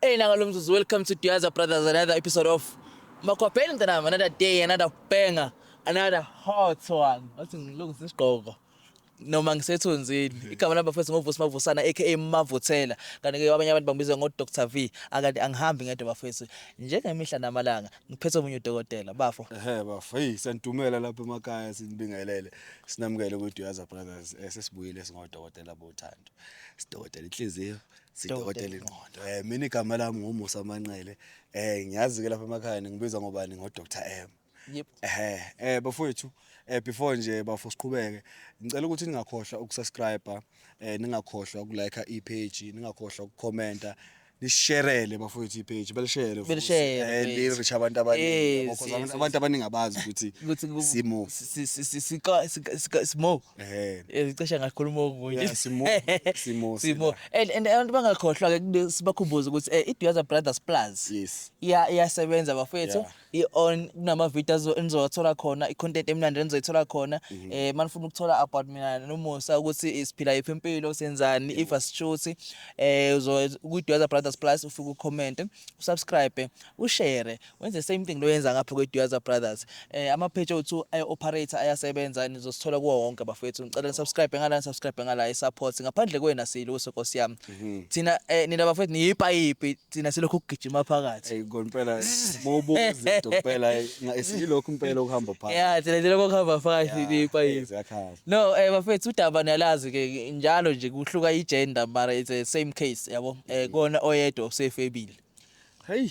Hey nanga lo mzuzu welcome to Diaza Brothers another episode of Makhwapheni mntanami another day another banger another hot one wathi ngilungise isigqoko noma ngisethunzini igama lami bafethu ngovusi mavusana aka mavuthela kanti ke abanye abantu bangibiza ngo Dr V akanti angihambi ngedwa bafethu njengemihla namalanga ngiphethe omunye udokotela bafo ehe bafo hey santumela lapha emakhaya sinibingelele sinamukele ukuthi uyaza brothers eh, sesibuyile singodokotela bothando sidokotela inhliziyo sidokotela ingqondo eh mina igama lami ngumusa manqele eh ngiyazi ke lapha emakhaya ngibizwa ngobani ngo Dr M yep eh eh bafowethu eh before nje bafo siqhubeke ngicela ukuthi ningakhohlwa ukusubscribe eh ningakhohlwa ukulike ipage ningakhohlwa ukucomenta lisherele bafowethu ipage belishere belishere lirisha abantu abaningi abantu abaningi abazi ukuthi ukuthi simo simo Eh. Eh, cishe ngakhuluma okunye Yeah, Simo- Simo simo sila. and and abantu bangakhohlwa ke kube sibakhumbuze ukuthi eh, iDuyaza Brothers Plus Yes. iya iyasebenza bafethu Yeah. i-on kunama-video azo- enizowathola khona i-content emnandi enizoyithola khona Mhm. eh manifuna ukuthola about mina nomusa ukuthi eh, siphila yiphi impilo senzani if asishuthi eh uzo- kwi-duyaza brothers plus ufike ucommente usubscribe ushare Wenze the same thing lo yenza ngapha kweDuyaza Brothers. Eh ama page othu ay operator ayasebenza nizosithola kuwo wonke bafethu. Ngicela ni subscribe ngala ni subscribe ngala i support ngaphandle kwena siluso Nkosi yami. Mhm. Thina eh nina bafethu niyipayipi thina silokhu kugijima phakathi. Ey konpela mawubuka izinto kuphela esilokhu impela okuhamba phakathi. Yeah thina silokhu okuhamba phakathi niyipayipi. No eh bafethu udaba niyalazi ke njalo nje kuhluka i gender mara it's the same case yabo. Eh mhm. kona oyedwa usefebile. Hey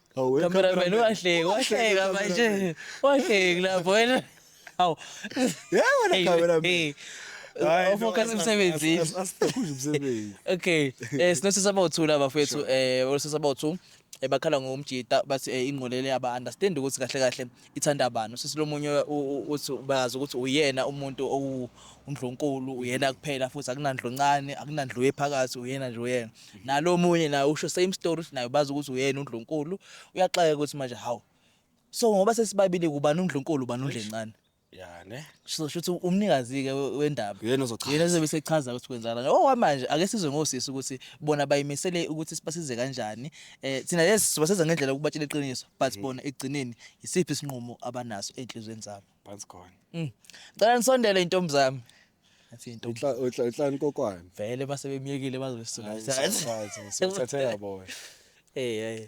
Awu, we Cameraman cameraman. wahleka, wahleka Cameraman. manje. Wahleka lapho wena. Awu. Yeah, wena Hey, cameraman. hey. Hayi, no, Ufocus as- emsebenzini. as- as- asithekhuzi umsebenzi. Okay. Eh sinosisa abawuthu laba fethu eh osisa abawuthu eh bakhala ngomjita bathi eh ingqolele aba understand ukuthi kahle kahle Ithandabani usisi lomunye uthi bayazi ukuthi uyena umuntu owundlunkulu uyena kuphela futhi akunandlu ncane akunandlu ephakathi uyena nje uyena nalo omunye naye usho same story ukuthi naye bazi ukuthi uyena undlunkulu uyaxaka ukuthi manje hawu so ngoba sesibabili kubani undlunkulu ubani undlencane ya ne sisho ukuthi umnikazi-ke we- wendaba Uyena ozochaza. yena ozobe sechaza ukuthi kwenzakala kanjani. okwamanje ake sizwe ngosisi ukuthi bona bayimisele ukuthi sibasize kanjani um thina yes sibasiza ngendlela ukubatshela iqiniso but Mm. bona ekugcineni yisiphi isinqumo abanaso ey'nhliziyweni zabo phansi khona Mm. cela nisondele intombi zami athi intombi Utla- utla- utlani kokwani vele uma sebemyekile Hayi, bazosuka usafakazi, usuthathela boy um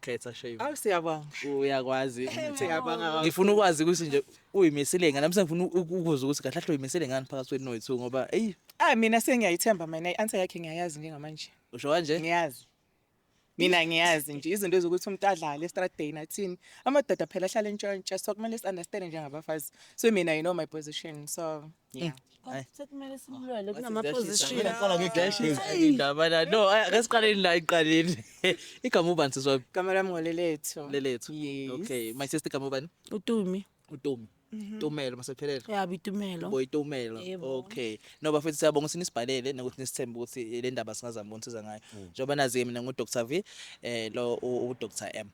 Khetha shame. Awu siyabonga. Uyakwazi. Siyabonga kakhulu. Ngifuna ukwazi ukuthi nje uyimisile ngani mse ngifuna uku- ukuzwa ukuthi kahle kahle uyimisile ngani phakathi kwenu noyithu ngoba eyi Ah mina sengiyayithemba mina i-answer yakhe ngiyayazi njengamanje. usho kanje Ngiyazi. Mina ngiyazi nje izinto ezokuthi umuntu adlale straight day nathini. Amadoda phela ahlala entshontsha so kumele si-understand njengabafazi. So mina you know my position so Yeah. Sekumele simlwele kunama-position. Indaba la no ay- ake siqaleni la iqaleni igama ubani sisi wami Kamela mngoleletho. lelethu Yes. okay my sister igama ubani Utumi. utumi tumelo masephelele Ya bitumelo. boyitumelo Yebo. okay no bafethu siyabonga ukuthi nisibhalele nokuthi nisithembe ukuthi le ndaba singazama ukunisiza ngayo njengoba nazi-ke mina ngu-dr v um lo u-dr m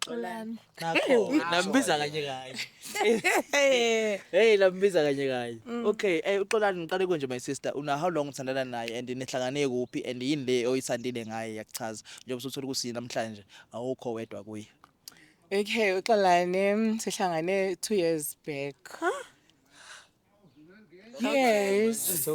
Xolani. Nambiza kanye kanye. Hey lambiza kanye kanye. Mm. Okay, eh uxolani ngiqale konje my sister. Una how long uthandana naye and nihlangane kuphi and yini le oyithandile ngaye yakuchaza. Njengoba usuthola ukuthi namhlanje awukho wedwa kuye. Okay, uxolani mm, sihlangane 2 years back. Huh? Yes.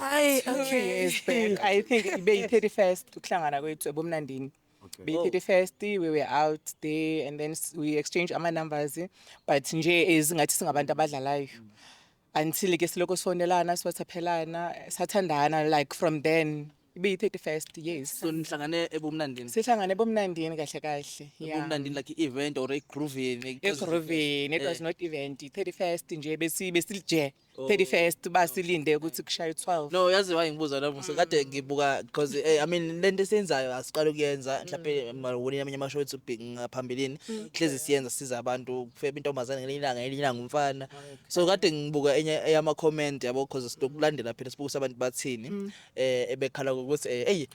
Ay, okay. Years back. I think ibe yi-31st ukuhlangana kwethu ebomnandini. Okay. Be 31st we were out there and then s- we exchange ama numbers but nje as ngathi singabantu abadlalayo until ke siloko sonelana siwathaphelana sathandana like from then be 31st yes so nihlangane ebumnandini sihlangane bomnandini kahle kahle yeah ebumnandini like i-event or egroovini eGroveni it was not event 31st nje besi besilje 31st basilinde ukuthi kushaye 12 no yazi why ngibuza la musa kade ngibuka because eh, i mean lento esiyenzayo asiqala ukuyenza mhlawumbe mawoni amanye amasho ethu big ngaphambilini hlezi siyenza siza abantu kufeba intombazane ngelinye ilanga ngelinye ilanga umfana so kade ngibuka enye eyama comment yabo because silokulandela phela sibuka ukuthi abantu bathini eh ebekhala ukuthi eh, eyi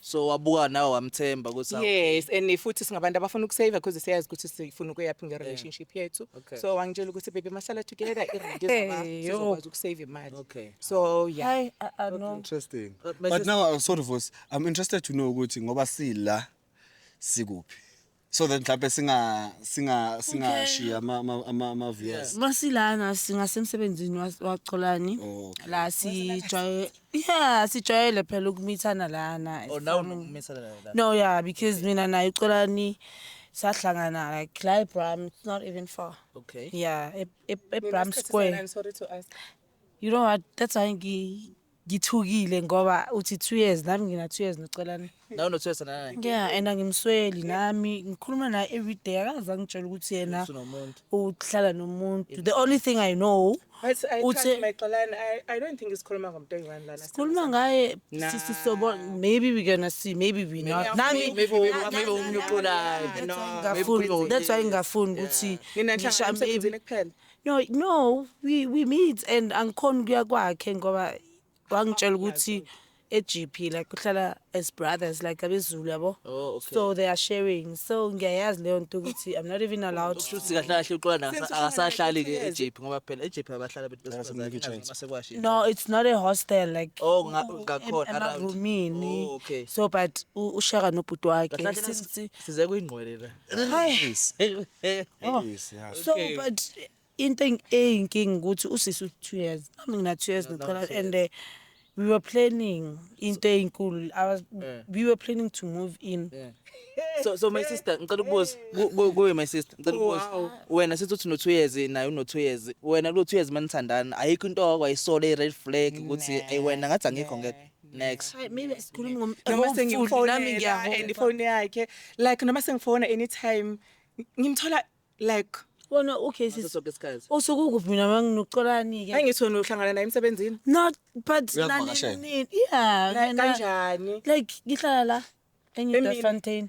so wabuka nawe wamthemba ukuthi awu- yes and futhi singabantu abafuna ukusave because siyazi ukuthi sifuna ukuyaphi nge-relationship yethu Okay. so wangitshela ukuthi baby masala together irent Hey, yo. sizokwazi ukusave imali Okay. so yeah Hayi, ah, ah, no. Interesting. But my But sister- now, uh, sorry, Voice, I'm interested to know ukuthi ngoba sila sikuphi. so that mhlawumbe singa singa singashiya ama ama- ama ama viewers masilana singasemsebenzini wa- wacholani Oh, okay. la sijwaye yeah sijwayele phela ukumithana lana Oh, now unokumisana naye la. no yeah because mina naye ucolani sahlangana like la ebram it's not even far Okay. yeah e- e- ebram square sorry to ask you know what that's why ngi Ngithukile ngoba uthi two years nami ngina two years nocelani. Nawe no two years nani. Yeah and angimsweli nami ngikhuluma naye every day akaze angitshela ukuthi yena usunomuntu. Uhlala nomuntu. The only thing I know uthi my xolani I, I don't think isikhuluma ngomntwana lana. Sikhuluma ngaye sisi sobo maybe we gonna see maybe we not. Nami maybe maybe umnye uxolayo. Ngafuni that's why ngafuni ukuthi ngisha maybe kuphela. no no we we meet and angikhona ukuya kwakhe ngoba wangitshela ukuthi eGP like kuhlala as brothers like abezulu yabo oh, okay. so they are sharing so ngiyayazi leyo nto ukuthi i'm not even allowed to ukuthi kahle kahle uqola akasahlali ke eGP ngoba phela eGP abahlala bethu besifazane no it's not a hostel like oh ngakhona around roomini oh, okay so but ushaka nobhuti wakhe size kuyingqwele la Hayi. Oh. Yes, yeah. So Okay. but into eng- eyinkinga ukuthi usisi u-two years nami ngina-two years ngicela and eh, we were planning into eyinkulu I was- Yeah. we were planning to move in so so my sister ngicela ukubuza ku- ku- kuwe my sister ngicela ukubuza wena sithi uthi no-two years naye uno-two years wena kulo-two years manithandana ayikho into wakwayisole i-red flag ukuthi eyi wena ngathi angikho ngeke next Hayi mina sikhuluma ngom noma ngomfuni, nami sengimfonela and ngiyahomba. ifoni yakhe like noma sengifona anytime ngimthola like Wona okay ngaso sis. sonke isikhathi Usuke ukuphi mina manginokucolani ke? angithi wena uhlangana naye emsebenzini Not but Uyakuvakashela? nani- yeah. like, mina- kanjani Like ngihlala la Emini. eNewfontein.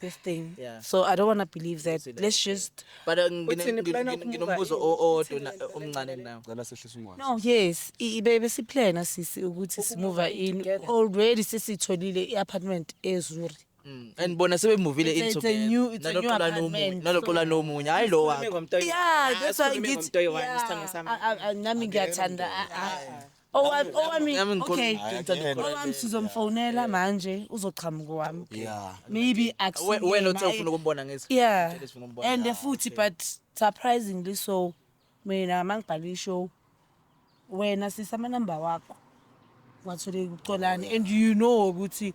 this thing Yeah. so i don't want to believe that Consider let's it, yeah. just but uh, ngine- Uthini, ngine- plan ngine- ukumuka nginombuzo yini? o- owodwa na- Uthini, omncane nawo Ngicela sehlise ungwazi. no yes i- ibe besiplana sisi ukuthi simuva in together. already sesitholile i-apartment ezuri Mm, and bona sebemuvile It's a- in it's a together. new- it's a new Naloxola nomunye- apartment, naloxola nomunye hayi lo wakho yeah that's why ngithi yeah, a- a- nami ngiyathanda a- a- Owami owami Yami ngikholwa okay. ukuthi ngithanda Yena. ukuqala. Owami sizomfonela manje uzoqhamuka owami. Yeah. Maybe We- akusiyena. wena uthe ufuna ukumbona ngithi Yeah. Ngitshele sifuna ukumbona. And Ah, futhi okay. but surprisingly so mina mangibhala ishow wena sisa amanamba wakho. Wathole ukucolani and you know ukuthi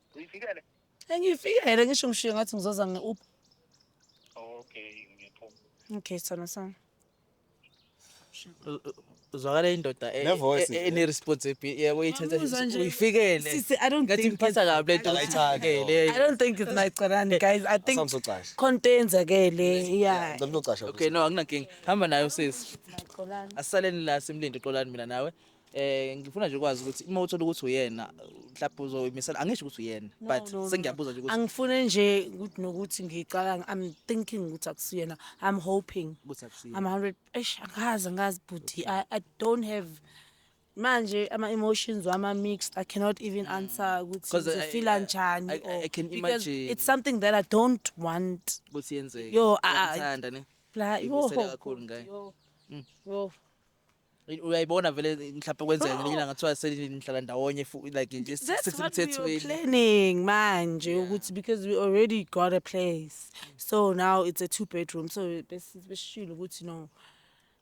Uyifikele? Engifikele ngisho ngishiye ngathi ngizoza nge-Uber. Okay, ngiyaphuma. Okay, sithando sami. uzwakala indoda e- Nevoice e- nje. ene-responsibility yabo uyithatha Ngiyamuzwa nje. uyifikele Sisi, I don't ngathi think ngiphatha it's- kabi le nto Akayithandi I uyifikele don't think it's my Qarani, guys. I think Asamsocasha. khonto eyenzakele. Yeah. Ngicela ucasha. okay no akunankinga hamba nayo sisi Qarani. asisaleni la simlinde uxolani mina nawe Eh ngifuna nje ukwazi ukuthi uma uthola ukuthi uyena mhlawumbe uzoyimisela angisho ukuthi uyena but no, no. sengiyabuza nje ukuthi angifune nje ukuthi nokuthi ngicabanga i'm thinking ukuthi akusiyena i'm hoping ukuthi akusiyena i'm 100 eish angazi angazi bhuti i, I don't have manje ama emotions wami are mixed i cannot even mm. answer ukuthi 'Cause I- ngifila I- njani I- I- I can because imagine. it's something that i don't want ukuthi yenzeke Yo, ah, ah. Uyamthanda ne bla Uyibusela kakhulu ngaye. yo Mm. yo uyayibona vele mhlawumbe kwenzeka ngelinye ilanga kuthiwa senihlala ndawonye fu- like nje That's what we were sisemthethweni planning manje ukuthi because we already got a place so now it's a two bedroom so bes- besishilo ukuthi no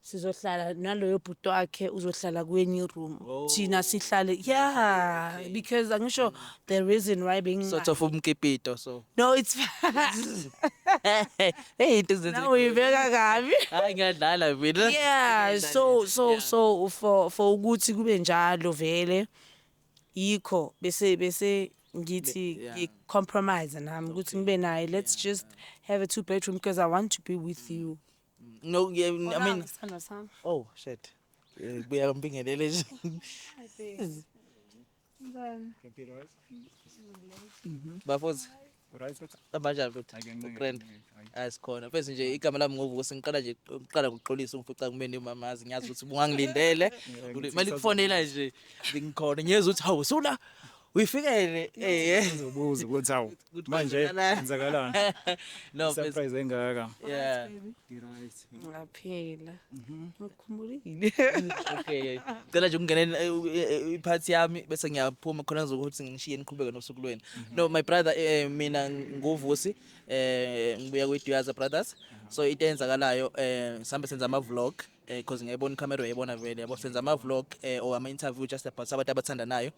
sizohlala naloyo bhuti wakhe uzohlala kwenye iroom thina sihlale yeah because angisho the reason why being sort of umkipito so no it's hey into zenze now uyibeka kabi hayi ngiyadlala mina yeah so so yeah. so for for ukuthi kube njalo vele yikho bese bese ngithi yeah. ngi compromise nami ukuthi ngibe naye let's yeah. just have a two bedroom because i want to be with you no yeah, i mean oh shit eh, kuya mpingelele nje bafozi abanjani futhi ugrand asikhona fesi nje igama lami ngovuka sengiqala nje uqala kuxolisa ungifica kumeni umamazi ngiyazi ukuthi bungangilindele mali kufonela nje ngikhona ngiyeza ukuthi hawu sula uyifikele eh ubuza ukuthi hawu Ukuthi manje kwenzakalani. kwenzakalani no please surprise engaka yeah Ngaphila. Ngikhumbulile. okay cela nje ukungena en- eh, eh, eh, iphathi yami bese ngiyaphuma khona ngizokuthi ngishiye niqhubeke nosuku lwenu no my brother eh, mina nguvusi eh ngibuya kwiduyaza brothers so into eyenzakalayo eh sihambe senza ama-vlog eh because ngiyayibona icamera uyayibona vele yabo senza ama vlog eh or ama interview just about abantu abathandanayo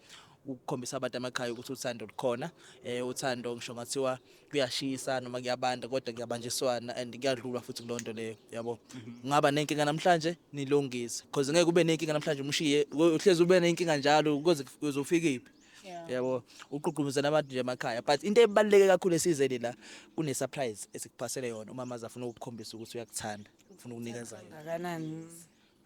ukukhombisa abantu amakhaya ukuthi uthando lukhona eh uthando ngisho ngathiwa kuyashisa noma kuyabanda kodwa kuyabanjiswana and kuyadlulwa futhi kulonto leyo yabo mhm. ngaba nenkinga namhlanje nilungise because ngeke ube nenkinga namhlanje umshiye uhlezi ube nenkinga njalo ukuze uzofika iphi yabo uqhuqhumuzana abantu nje emakhaya but into ebaluleke kakhulu esizeni la kune surprise esikuphasele yona umama azafuna ukukhombisa ukuthi uyakuthanda ngifuna ukunikeza yona Kangakanani?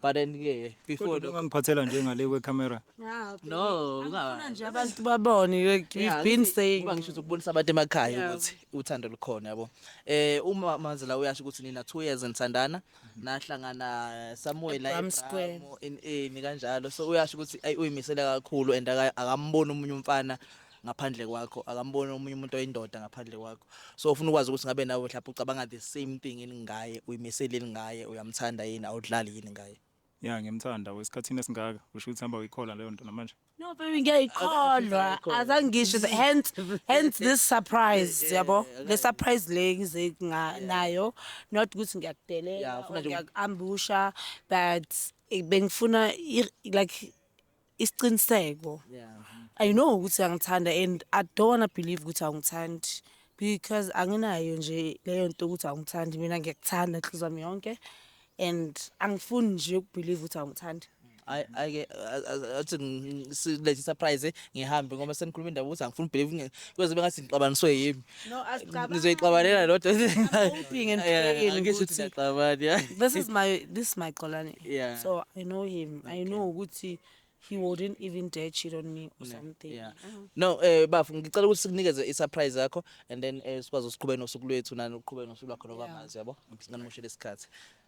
but then ke before kodwa lokho- ungangiphathela nje ngale kwecamera Ah, okay. no Angifuna unga- nje abantu babone like Yeah, we've been ngithi- saying ngoba ngisho ukubonisa abantu emakhaya Yeah. ukuthi uthando lukhona yabo eh uma manje la uyasho ukuthi nina 2 years nithandana nahlangana somewhere la Ebram Square. eBramo, in eni kanjalo so uyasho ukuthi ayi uyimisele kakhulu and aka- akamboni umunye umfana ngaphandle kwakho akamboni omunye umuntu oyindoda ngaphandle kwakho so ufuna ukwazi ukuthi ngabe nawe mhlawumbe ucabanga the same thing yini ngaye uyimisele yini ngaye uyamthanda yini awudlali yini ngaye ya ngiyamthanda wesikhathini esingaka usho ukuthi hamba uyikhola leyo nto namanje no baby ngiyayikholwa azangisho hence hence this surprise yabo le surprise le ngize nayo not ukuthi ngiyakudelela ngiyakuambusha but bengifuna like isiqiniseko i know ukuthi angithanda and i don't wanna believe ukuthi awungithandi because anginayo nje leyo nto ukuthi awungithandi mina ngiyakuthanda nhliziyo yami yonke and angifuni nje ukubelieve ukuthi awungithandi I I athi silethe surprise ngihambe ngoba senikhuluma indaba ukuthi angifuni believe kwenze bengathi ngixabaniswe yimi No, asicabangi. ngizoyixabanela lodwa Hoping and praying ukuthi- ngisixabani ya This is my this is my Xolani. Yeah. So I know him. I know ukuthi he wouldn't even dare cheat on me or something. Yeah. No, eh bafu ngicela ukuthi sikunikeze i-surprise yakho and then eh sikwazi usiqhubeke nosuku lwethu nani uqhubeke nosuku lwakho nokwamazi yabo. Ngingamoshela isikhathi.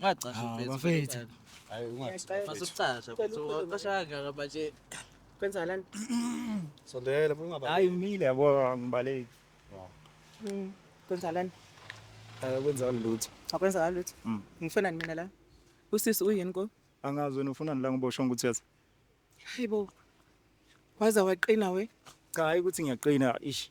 Ngacasha Ah, mfethu. bafethu. Hayi ungathi. Fasa ukucasha. Ucasha kangaka manje. Kwenzakalani? Sondela ungaba. Hayi umile yabo angibaleki. Kwenzakalani? Akwenza lutho. Akwenzakali lutho. Mm. Ngifunani mina la? Usisi uyini ko? Angazi wena ufunani la ngoba ushongo ukuthi yazi. Hayibo. Waza waqina we. Cha hayi ukuthi ngiyaqina ish.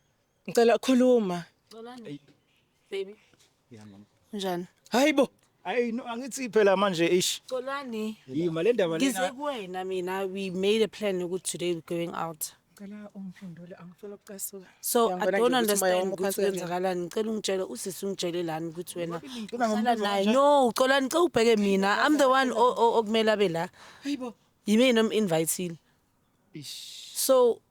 Ngicela khuluma. Xolani. Baby. Yeah mama. Njani? Hayibo. Hayi no angithi phela manje ish. Xolani. Yima le ndaba lena. Ngize kuwena mina we made a plan ukuthi today we going out. Ngicela ungiphendule angifuni ukucasuka. So I don't understand ukuthi kwenzakalani. Ngicela ungitshele usisi ungitshele lani ukuthi wena uhlala naye. No, uxolani cela ubheke mina. I'm the one okumele abe la. Hayibo. Yimi nom invitile. Ish. So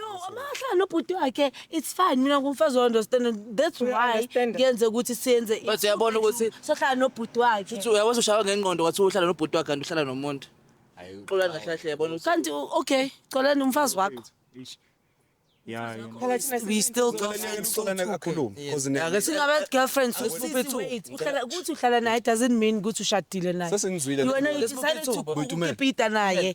No, amahlala nobhuti wakhe it's fine mina ngumfazi wa-understand that's why Uya-understand. ngenze ukuthi siyenze But uyabona ukuthi- sohlala nobhuti wakhe futhi uyakwazi ushaywa ngengqondo kwathiwa uhlala nobhuti wakhe kanti uhlala nomuntu Hayi, xolani kahle kahle yabona ukuthi kanti u- okay xolani umfazi wakho Eish. Yeah, yeah. Phela thina we still Uxolani, girlfriend so uxolani two. kakhulu, Yes. cause ne- Ake si- singabe girlfriend so Let's move it to- wait uhlala ukuthi uhlala naye doesn't mean ukuthi ushadile naye Sesingizwile. wena you Let's move it decided to. to Bhuti uMele. ukipita naye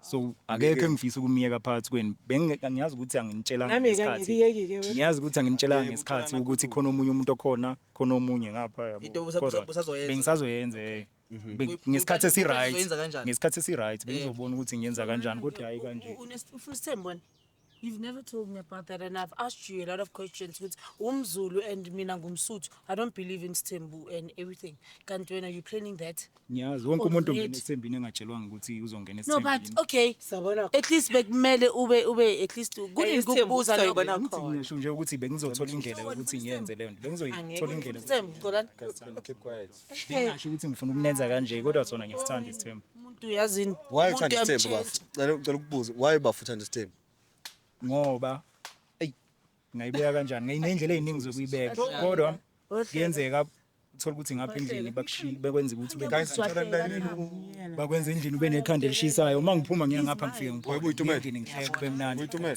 so akekho engifisa ukumyeka phakathi kwenu bengiyazi ukuthi anginitshelanga Nami-ke ngesikhathi angikuyeki-ke wena. ngiyazi ukuthi anginitshelanga Yebo, ngesikhathi ucabanga ukuthi khona omunye umuntu okhona khona omunye ngapha yabo. Into usa- Kodwa usa- usazoyenza. bengisazoyenza eh. Be- Kuyi- ngesikhathi kuyi- esiryt uzoyenza kanjani? ngesikhathi esiryt bengizobona ukuthi ngiyenza kanjani kodwa hayi kanje Unesithembu wena. You've never told me about that and I've asked you a lot of questions ukuthi umzulu and mina ngumsuthu I don't believe in sthembu and everything kanti wena you planning that ngiyazi wonke umuntu Already. ongena esembini engatshelwanga ukuthi uzongena no but esembini okay Sabona at least bekumele ube ube at least Eh, kunini isithembu kukubuza lokho sizoyibona Ngithi khona. ngisho nje ukuthi bengizothola indlela yokuthi ngiyenze leyo nto bengizoyithola indlela Sithembu, Xolani. Guys, time, keep quiet. Ngingasho ukuthi ngifuna ukunenza kanje kodwa sona ngisithanda isithembu. umuntu yazini Why umuntu uthanda isithembu uyamtshelisa. bafo? Cela cela ukubuza. Why bafo uthanda isithembu? Ngoba eyi ngayibeka kanjani? Nginendlela eziningi zokuyibeka kodwa kuyenzeka uthola ukuthi ngapha endlini bakushiye bekwenza ukuthi ube Guys, ngicela nilalele u- bakwenza endlini ube nekhanda elishisayo uma ngiphuma ngiya ngapha ngifike Webuyitumela. ngiphuma ngihleke kube mnandi Uyitumela.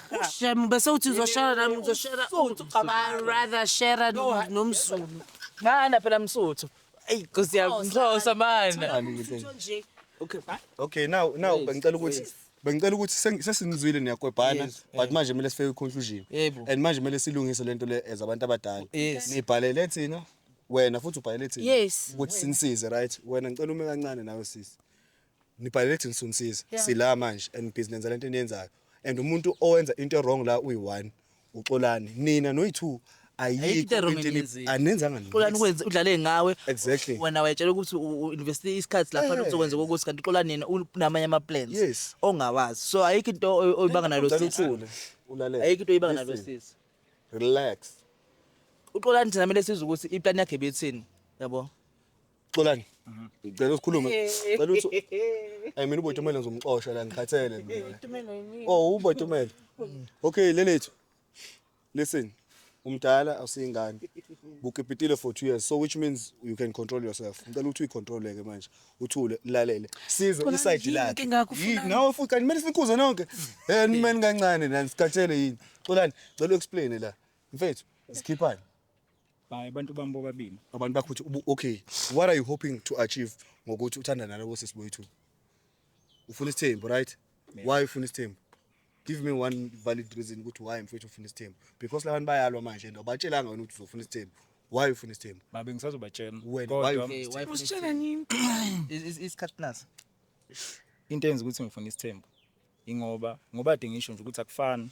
Ushem bese uthi uzoshara nami ngizoshara Msuthu, cabanga. I rather share No, I- nomzulu. Mana phela msuthu. Eyi Nkosi yami ngixhosa mana. Nje Okay, bye. Okay, now now Yes, bengicela ukuthi yes. bengicela ukuthi seng- sesinizwile niyakwebhana Yes, but eh. manje kumele sifike kwi-conclusion. Yebo. And manje kumele silungise lento le as abantu abadala. Yes. Nibhalele thina wena futhi ubhalele thina Yes. ukuthi sinisize right. Wena ngicela ume kancane nawe sisi. Nibhalele thina sonisiza. Yeah. Sila manje and nibhizi nenza lento eniyenzayo. And umuntu owenza into ewrong la uyi-one uxolani. Nina noyi-two Ayikho ayikho into ewrong into eni- eniyenzile. anenzanga nini. Xolani kwenze udlale ngawe. Exactly. Wena wayetshela ukuthi u- u- invest isikhathi lapha Eh. uzokwenza kokuthi kanti uxola nina unamanye ama plans Yes. ongawazi. So ayikho into oy- oyibanga nalo Ucela sisi. uthule, ulalele. Ayikho into oyibanga nalo Listen, sisi. Relax. Uxolani thina mele sizwe ukuthi iplan yakhe bethini. Yabo. Xolani. Mhm. Ngicela usikhulume. Cela uthi Hey mina uBotumelo ngizomxosha la ngikhathele mina. Tumelo yini? Oh uBotumelo. Okay lelethu. Listen. Umdala awusingane. Bukipitile for 2 years. So which means you can control yourself. Ngicela ukuthi uyicontrole ke manje. Uthule, lalele. Size Khona iside yini lakhe. inkinga yakho Yini ufunani? nawe futhi kanti kumele sinikhuze nonke. Eh nimeni kancane nani sikhathele yini. Xolani, ngicela uexplain la. Mfethu, sikhiphani. Hayi abantu bami bobabili. Abantu bakho ukuthi ubu- okay, what are you hoping to achieve ngokuthi uthandana nalowo sisi boyithu? Ufuna isithembu, right? Yeah. Why ufuna isithembu? Give me one valid reason ukuthi why mfethu ufuna isithembu. Because labantu bayalwa manje and awubatshelanga wena ukuthi uzofuna isithembu. Why ufuna isithembu? Babe ngisazobatshela. Wena, Kodwa why Okay, why funa Usitshela nini? Is- is- isikhathi plus into enza ukuthi ngifuna isithembu ingoba ngoba de ngisho nje ukuthi akufani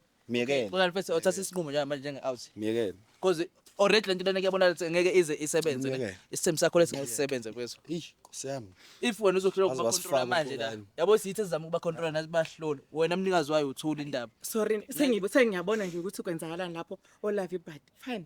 Myekele. Kodwa mfethu othatha isinqumo njengamanje njenge out. Myekele. Because already lento lena kuyabona ukuthi ngeke ize isebenze ne. Ngeke. Isithembu sakho lesingeke sisebenze kwezwe. Eish, siyami. If wena uzohlulwa Waze ukuba wasifaka controller manje la. ukhulani. Yabo siyithe sizama ukuba controller nathi bahlole. Wena mnikazi wayo uthula indaba. sorry sengibe sengiyabona nje ukuthi kwenzakalani lapho olavi but fine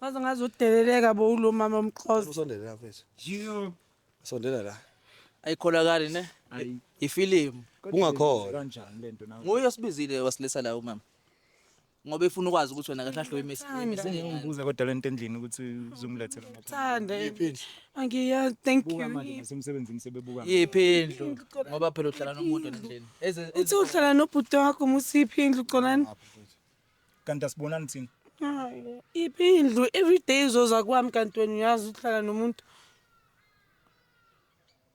Waze ngaze udeleleka bo ulo mama umxhosa. Usondele la mfethu. Jiyo. Sondela la. Ayikholakali ne? Ayi. Ifilimu. Ungakhola. Kanjani lento nawe? Nguye osibizile wasilisa la umama. Ngoba efuna ukwazi ukuthi wena kahle ahle imisi. Ngimbuza kodwa lento endlini ukuthi uzomlethela ngapha. Thanda. Angiyazi thank Buka you. manje nasemsebenzini sebebuka. Yiphi indlu? Ngoba phela uhlala nomuntu endlini. Eze Uthi uhlala nobhuti wakho musiphi indlu colani? kanti asibonani thina iphi indlu everyday izoza kwami kanti wena uyazi uhlala nomuntu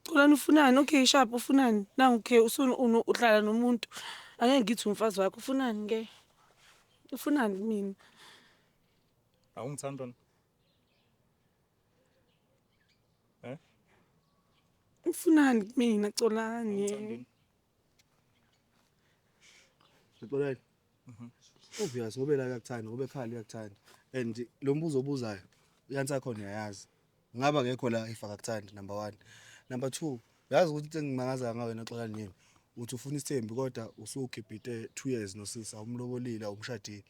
Xolani ufunani okay sharp ufunani nangu ke usunu uhlala nomuntu angeke ngithi umfazi wakho ufunani ke ufunani mina awungithanda eh ufunani mina Xolani Xolani Mhm. obvious ngoba yena uyakuthanda ngoba ekhala uyakuthanda and lo mbuzo obuzayo uyansi akhona uyayazi ngaba akekho la if akakuthandi number one number two yazi ukuthi into engimangaza ngayo wena xola nini uthi ufuna isithembi kodwa usukhiphe two years nosisi awumlobolile awumshadile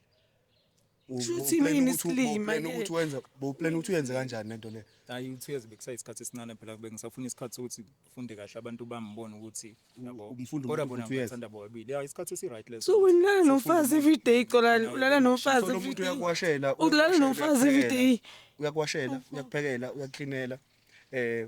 Shuthi yini isilima ke? Ukuthi wenza boplan ukuthi uyenze kanjani lento le? Hayi uthi uyazi bekusayisikhathi esincane phela kube ngisafuna isikhathi sokuthi ufunde kahle abantu bangibone ukuthi yabo. Umfundo Kodwa bona ukuthi uyenza. ngithanda bobabili. Ya isikhathi esi right leso. So wena ulala nomfazi every day Xolani, ulala nomfazi Solo every umuntu day. uyakuwashela, Ukulala uyakuwashela, nomfazi every uyakuphekela, day. Uyakuwashela, uyakuphekela, uyakuklinela. Eh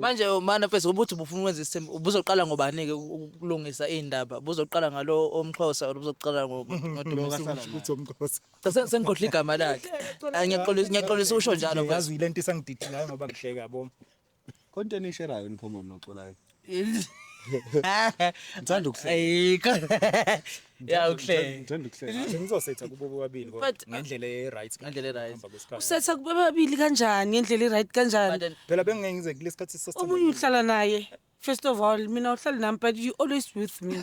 manje manifest ukuthi ubufuna ukwenza isithembu ubuzoqala ngobani-ke ukulungisa iy'ndaba buzoqala ngalo omxhosa or buzoqala sengikhohlwa igama lakhe ngiyaxolisa usho njalo yazi yile nto isangididhilayo ngoba ngihleka yabo konto enisherayo niphomoni noculayo Ngithanda ukuhleka. Ayikho. Ya ukuhleka. Ngithanda ukuhleka. Sengizosetha kubo bobabili kodwa But- ngendlela e-right. Ngendlela e-right. Ngihamba kwesikhathi. Usetha kubabili kanjani ngendlela i-right kanjani? But then- Phela bengingeke ngize kulesikhathi sasithandana. Omunye uhlala naye. First of all, mina uhlala nami but you always with me.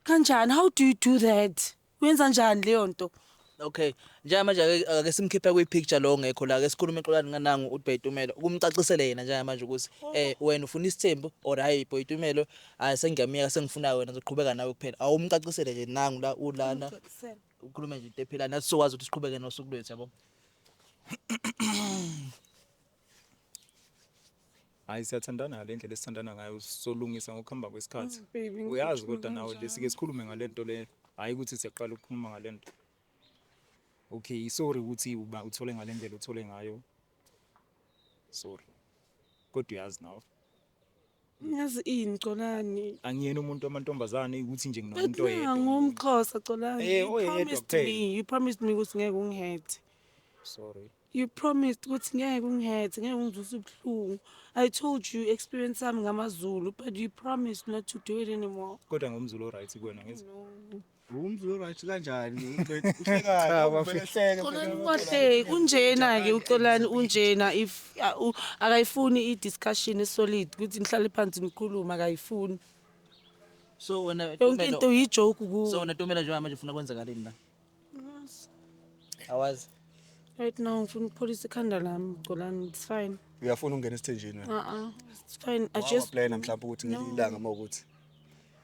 Kanjani? How do you do that? Uyenza njani leyo nto? Okay. Njengamanje ake ake simkhiphe kwi picture lo ngekho la. Ake sikhulume xolani nganangu uDbay Tumelo. Ukumcacisele yena njengamanje ukuthi eh wena ufuna isithembu or hayi Boy Tumelo hayi sengiyamiyeka sengifuna wena ngizoqhubeka nawe kuphela. Awumcacisele nje nangu la ulana. Ukhulume nje into ephila nathi sokwazi ukuthi siqhubeke nosuku lwethu yabo. Hayi siyathandana ngale ndlela esithandana ngayo solungisa ngokuhamba kwesikhathi. Mm, baby, ngifisa Uyazi ukukhuluma kodwa nawe nje kanjalo. sike sikhulume ngale nto le. Hhayi ukuthi siyaqala ukukhuluma ngale nto. Okay, sorry ukuthi uba uthole ngale ndlela othole ngayo. Sorry. Kodwa uyazi nawe. Ngiyazi ini Xolani? Angiyena umuntu wamantombazane ukuthi nje nginomuntu But oyedwa. nangu umxhosa Xolani. Eh, You oyedwa promised kuphela. me, you promised me ukuthi ngeke ungihethe. Sorry. You promised ukuthi ngeke ungihethe, ngeke ungizwise ubuhlungu. I told you experience sami ngamaZulu, but you promised not to do it anymore. Kodwa ngomzulu oright kuwena ngithi. No. Umzi uright kanjani? Cha, bafethu. Xolani ukahle unjena ke uxolani unjena if a- u- akayifuni i-discussion esolid ukuthi nihlale phansi nikhulume akayifuni So wena yonke into Tumelo. uyijoke So kuwo wena Tumelo njengoba manje ufuna kwenzakaleni la? Awazi. right now ngifuna ukupholisa ikhanda lami xolani it's fine Uyafuna ukungena esithenjini wena. uh-uh it's fine i just Wawaplayela mhlawumbe ukuthi ngelinye ilanga uma ukuthi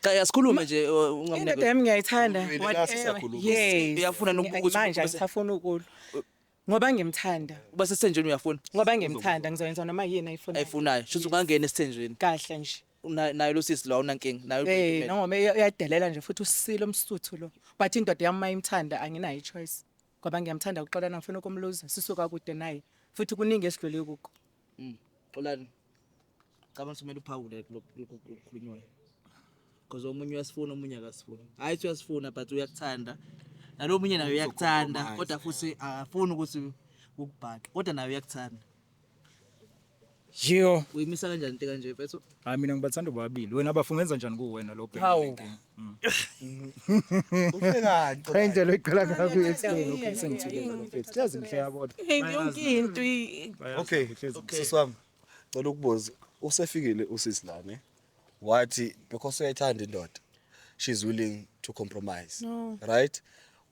Cha yasikhulume nje uh, indoda ungamnike. yami ngiyayithanda Ulwele whatever. lasisakhuluma. Yes. Uyafuna noku- Ngiya- ukuthi- manje ukuthi- angisafuni ukulwa ngoba ngimthanda Uba sesithenjweni uyafuna? ngoba ngimthanda ngizoyenza noma yini ayifuna Ayifunayo. Shuthi ungangena esithenjweni. kahle nje Una- Nayo lo sisi lo awunankinga. Nayo Eh udocument. noma uya- uyadelela nje futhi usile umsuthu lo but indoda yami mayimthanda anginayo choice ngoba ngiyamthanda uxolana ngifuna ukumluza sisuka kude naye futhi kuningi esidlule kuko Mm. Xolani. Cabanga ukuthi kumele uphawule kulokukhulunywayo. Because omunye uyasifuna omunye akasifuni. Hayi ukuthi uyasifuna but uyakuthanda. Nalo omunye naye uyakuthanda Uzokucompromise, kodwa futhi yeah. akafuni ukuthi ukubhaqa kodwa naye uyakuthanda. Jiyo. Uyimisa kanjani into kanje mfethu? Hayi mina ngibathanda bobabili. Wena bafo ungenza njani kuwena lo bheki? Hawu. lenkinga? Mm. Uhlekani? Cha indlela eqala kabi yesini lokho sengithulile lo bheki. Siyazi ngihleka kodwa. Hey, yonke into i- Okay, sisi wami. Cela ukubuza. Usefikile usisi la ne. Wathi because uyayithanda indoda. She's willing to compromise. No. Right?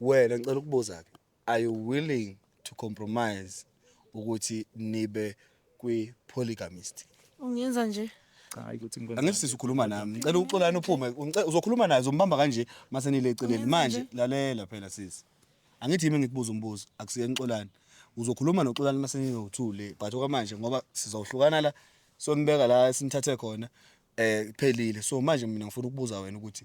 Wena ngicela ukubuza ke. Are you willing to compromise ukuthi nibe kwi polygamist? Ungenza nje. Cha hayi ukuthi ngikwenza. Angithi sisi ukhuluma nami. Ngicela uxolani uphume. Ngice- Uzokhuluma naye uzombamba kanje mase nile eceleni. Ungenza Manje nje. lalela phela sisi. Angithi yimi ngikubuza umbuzo akusiyeni uxolani. Uzokhuluma noxolani mase ninothule but okwamanje ngoba sizohlukana la sonibeka la sinithathe khona eh kuphelile. So manje mina ngifuna ukubuza wena ukuthi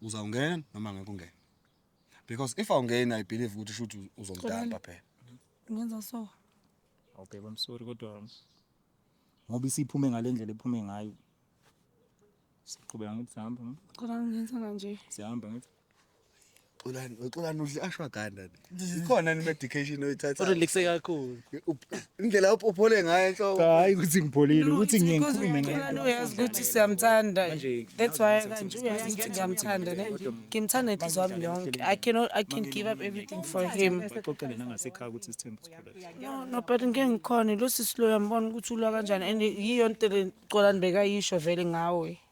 uzawungena noma ngeke ungene because if awungeni i believe ukuthi shuthi uzomdamba phela ngenza so awubheke i'm sorry kodwa ngoba isiphume ngalendlela ephume ngayo siqhubeka ngithi sihamba cela ngenza kanje sihamba ngithi xolani xolani udle ashwaganda ni ikhona ni medication oyithatha urelaxe kakhulu indlela uphole ngayo enhloko hayi ukuthi ngipholile ukuthi ngiye ngikhulume ngayo uyazi ukuthi siyamthanda that's why kanje uyazi ukuthi ngiyamthanda ne ngimthanda inhliziyo yami yonke i cannot i can give up everything for him baxoxele nangasekhaya ukuthi isithembu sikhula no no but ngeke ngikhone lo sisi lo yambona ukuthi ulwa kanjani and yiyo into le Xolani bekayisho vele ngawe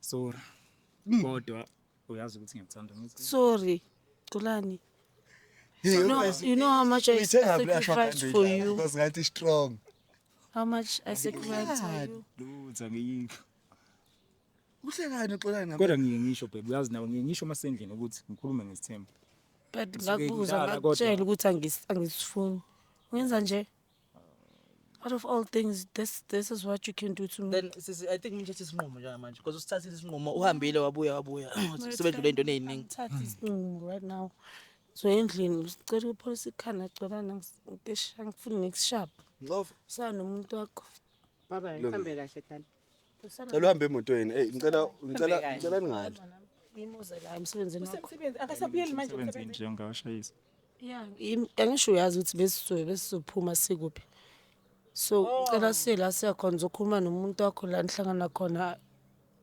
Sorry. Mm. Kodwa uyazi ukuthi ngiyakuthanda ngithi. Sorry. Thulani. You know, you know how much I sacrificed for you. Because ngathi strong. How much I sacrificed for you. Lutho ngiyikho. Uhlekani uxolani ngapha. Kodwa ngiye ngisho babe uyazi nawe ngiye ngisho masendlini ukuthi ngikhulume ngesithembu. But ngakubuza ngakutshela ukuthi angisifuni. Ngenza nje. out of all things this this is what you can do to me then sisi i think ngithathe isinqumo njengamanje because usithathile isinqumo uhambile wabuya wabuya sebedlule into eziningi ngithathe isinqumo right now so endlini usicela ukupholisa ikhanda cela ngisisha ngifuna nekusharp ngoba sanomuntu wakho baba ihambe kahle dani Cela uhambe emotweni. Hey, ngicela ngicela ngicela ningali. Imuze la emsebenzini wakho. Usemsebenzi akasabuyeli manje Sebenzi emsebenzini. nje ngawashayisa. Yeah, im- angisho uyazi ukuthi besizobe besizophuma sikuphi. So ngicela siye la siya khona uzokhuluma nomuntu wakho la nihlangana khona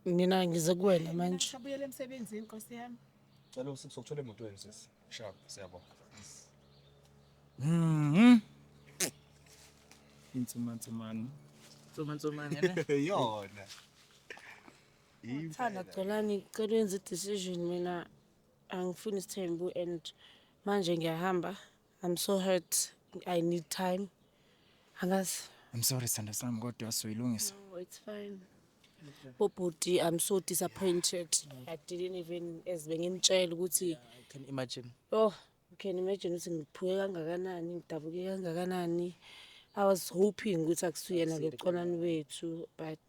mina ngize kuwena manje. Akasabuyeli emsebenzini Nkosi yami. Cela usikuthole emotweni sisi. Sure, siyabonga. Mhm. Insumansumane. Nsomansomane ne? Yona. Thanda Xolani ngicela wenze i-decision mina angifuni isithembu and manje ngiyahamba I'm so hurt I need time Angazi. I'm sorry sanda sami kodwa soyilungisa. No, it's fine. Bobhuti, I'm so disappointed. I didn't even as bengimtshela ukuthi yeah, I can imagine. Oh, you can imagine ukuthi ngiphuke kangakanani, ngidabuke kangakanani. I was hoping ukuthi akusuyena ke uconani wethu but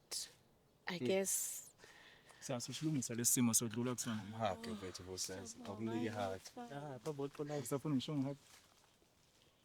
I yeah. guess sasishilungisa lesimo sodlula kusona hake mfethu bosazi akunike hake ah babo xolani usafuna ngisho ngihake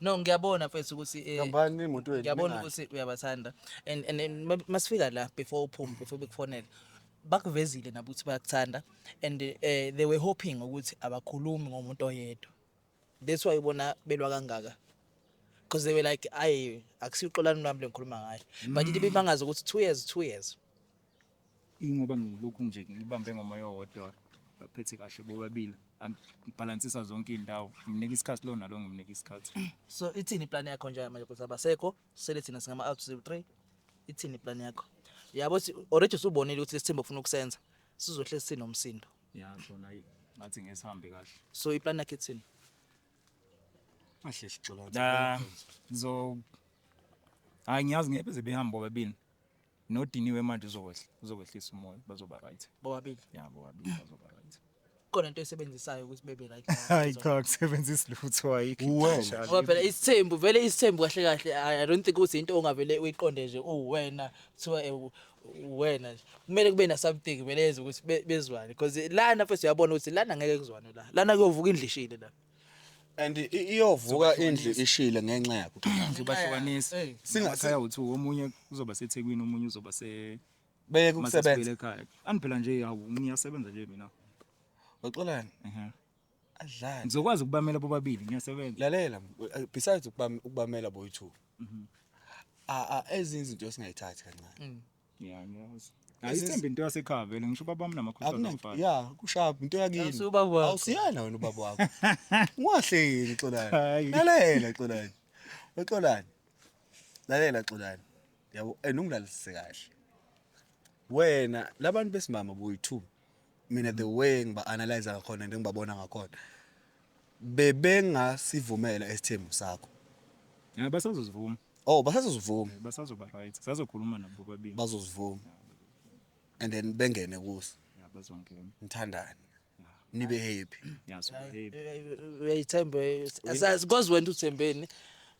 No ngiyabona mfethu ukuthi eh Hambani imoto yenu. ngiyabona ningaki. ukuthi uyabathanda and and and ma- masifika la before uphume before bekufonele bakuvezile nabo ukuthi bayakuthanda and eh they were hoping ukuthi abakhulumi ngomuntu oyedwa that's why ubona belwa kangaka because they were like ayi akusiqolani lami lengikhuluma ngayo but into ibimangaza ukuthi two years two years Ingoba ngilokhu nje ngibambe ngomoya owodwa baphethe kahle bobabili ngibhalansisa zonke iy'ndawo ngimnika isikhathi lo nalo ngimnika isikhathi So ithini iplan yakho nje manje ukuthi abasekho sele thina singama out zero three ithini iplan yakho? Yabo si- already usubonile ukuthi lesithembu ofuna ukusenza sizohlezi sinomsindo. ya khona ayi ngathi ngesihambe kahle So iplan yakho ithini? Kahle sixola. la ngizo hayi ngiyazi ngeke beze behambe bobabili Nodiniwe manje uzokwehla uzokwehlisa umoya bazoba right. Bobabili. Yeah bobabili bazoba right. Khona into esebenzisayo ukuthi bebe right. Hayi cha kusebenzisa lutho ayikho. Uwena. Ngoba phela isithembu vele isithembu kahle kahle I I don't think ukuthi into ongavele uyiqonde nje uwena kuthiwa eh, u- uwena nje. Kumele kube na something vele yenza ukuthi be- bezwane because lana mfethu uyabona ukuthi lana ngeke kuzwane la. Lana kuyovuka indlishile la. and i- iyovuka indlu ishile ngenxa yakho Zobahlukanisa. Singa- Amakhaya uthu omunye uzoba seThekwini omunye uzoba se beye kusebenza Masasibuyele ekhaya. Ani phela nje hawu ngiyasebenza nje mina. uxolani Ehhe. adlani Ngizokwazi ukubamela bobabili ngiyasebenza. lalela eh, besides ukubam- ukubamela boy two a a ezinye izinto esingayithathi kancane Yeah, ngiyazi. Hayi ithemba into yasekhaya vele ngisho ubaba wami namakhosi Akunanto. azofana. Yeah, kushaya into yakini. Awusiye ubaba wakho. Awusiyena wena ubaba wakho. Ungahleki Xolani. Hayi. Lalela Xolani. Uxolani. Lalela Xolani. Yabo and ungilalise kahle. Wena labantu besimama boyi 2 mina the way ngiba analyze ngakhona and ngibabona ngakhona bebengasivumela isithembu sakho Yeah, basazozivuma. oh basazozivuma Eh, Basazoba right. Sazokhuluma nabo bobabili. bazozivuma and then bengene kuso Yeah, bazongena. nithandane nibe happy Yeah, so babe. uyayithembe asazi kwazi wena uthembeni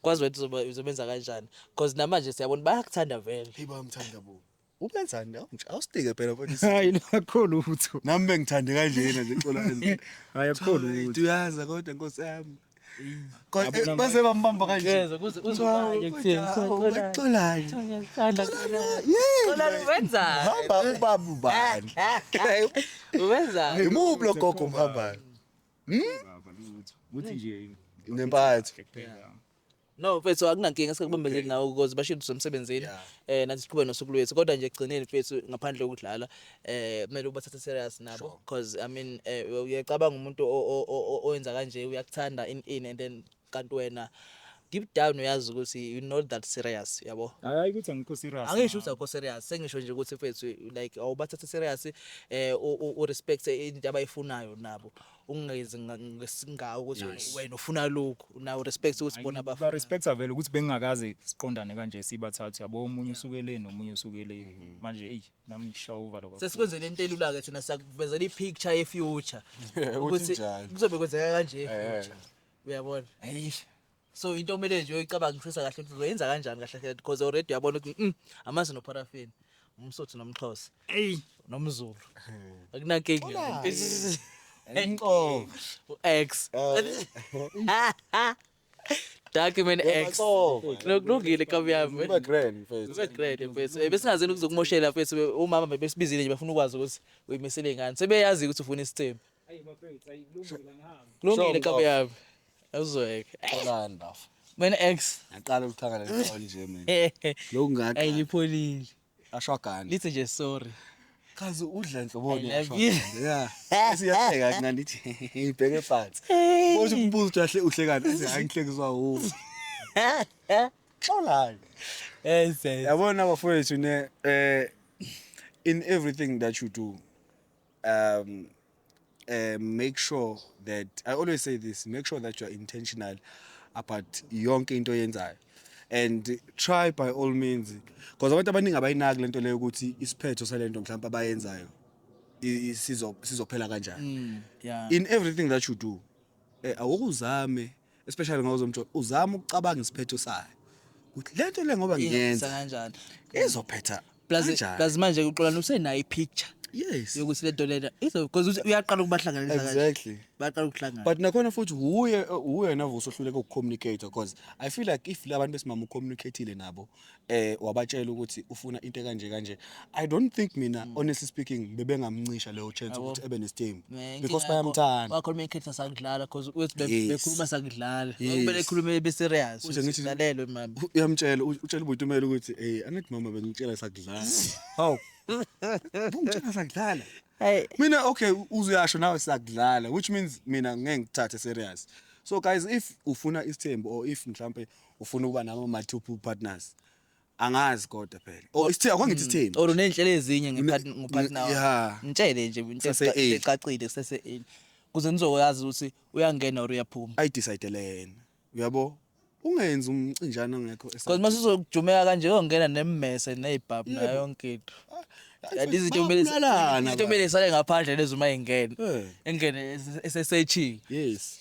kwazi wena uzoba- uzobenza kanjani because namanje siyabona bayakuthanda vele hey bayamthanda bo Ubenzani nawe nje? Awusitike phela mfowethu. Hayi nakho lutho. Nami bengithande kanjena nje xola kanjena. Hayi akho lutho. Uyaza kodwa nkosi yami. Kodwa base bambamba kanje. Yeza kuze uzwaye kuthini. Uxolani. Ngiyakhala. Xola wenza. Hamba ubaba ubani. Wenza. Imuphi lo gogo mhambayo? Hmm? Uthi nje nempatho. No mfethu akunankinga sikubambezeli okay. nawe because bashilo somsebenzini yeah. eh nathi siqhube nosuku lwethu kodwa nje ekugcineni mfethu ngaphandle kokudlala eh kumele ubathathe serious nabo sure. because i mean eh, uyacabanga umuntu owenza kanje uyakuthanda in in and then kanti wena deep down uyazi ukuthi you know that serious yabo hayi ukuthi angikho serious angisho ukuthi akho serious sengisho nje ukuthi mfethu like awubathathe serious eh u respect into abayifunayo nabo ungenzi nga- ngesingawo ukuthi Yes. wena ufuna lokhu nawo respect ukuthi bona ba bafuna respecta vele ukuthi bengingakaze siqondane kanje sibathathu yabo omunye usuke le nomunye usuke le manje eyi nami ngishawa uvalo kakhulu. sesikwenzele into elula ke thina sakuvezela i-picture ye-future Ukuthi njani. kuzobe kwenzeka kanje Eh. i-future uyabona Eish. so into okumele nje uyicabangisisa kahle ukuthi uzoyenza kanjani kahle kahle because already uyabona ukuthi mm, amazi noparafin umsotho nomxhosa eyi nomzulu akunankinga Wala. Is- Inqobo. u-x document x nokulungile kabi yami Uba grand mfethu. Ube great mfethu. Eh, Besingazini ukuzokumoshela mfethu be- umama bebesibizile nje bafuna ukwazi ukuthi uyimisele ngani. Sebeyazi ukuthi ufuna isithembu. Kulungile Sure, kabi yami. Awuzweke. Xolani bafo. Wena ex. Ngaqala ukuthakala lento nje mina. Lokhu ngathi. Ayilipholile. Ashwagani. Lithi nje sorry. Kazi udla nhloboni yashwagani. Yeah. Siyahleka mina ndithi ngibheke phansi. Bothi umbuzo ukuthi ahle uhlekani. Athi hayi ngihlekiswa wu. Xolani. Yes. Yabona bafowethu ne eh in everything that you do um uh, make sure that i always say this make sure that you're intentional about yonke into oyenzayo and try by all means because abantu abaningi abayinaki lento leyo ukuthi isiphetho salento mhlawumbe abayenzayo i- i- sizo- sizophela kanjani Mm, yeah. in everything that you do eh, awukuzame especially ngoba uzomthola uzama ukucabanga isiphetho sayo ukuthi le nto le ngoba Yenza ngiyenza kanjani izophetha plus kanjani? plus manje uxolani usenayo ipicture yes yokuthi le nto lena izo because uthi uyaqala ukubahlanganisa kanje exactly baqala ukuhlangana but nakhona futhi wuye wuye navuso ohluleka ukucommunicate because i feel like if labantu besimama ucommunicatile nabo eh wabatshela ukuthi ufuna into kanje kanje i don't think mina mm. honestly speaking bebengamncisha leyo chance ukuthi ebe nestem because bayamthanda wakhuluma ikhetha sakudlala because uthi bekhuluma sakudlala kumele ekhulume be serious ulalelwe mama uyamtshela utshela ubutumela ukuthi hey angithi mama bengitshela sakudlala how bungitshela sakudlala Hey. Mina okay uzuyasho nawe sakudlala which means mina ngeke ngithathe serious. So guys if ufuna isithembu or if mhlambe ufuna ukuba nabo ma two pool partners angazi kodwa phela or oh, isithembu akwangithe mm. isithembu or unenhlelo ezinye ngepartner yeah ngitshele nje ngithe ecacile kusese in kuze nizoyazi ukuthi uyangena or uyaphuma i decide lena uyabo ungenzi umcinjana ongekho because mase uzokujumeka kanje uyongena nemmese nezibhab nayo yonke into kanti izinto kumele izinto kumele isale ngaphandle lezi uma ingena engene esesechini yes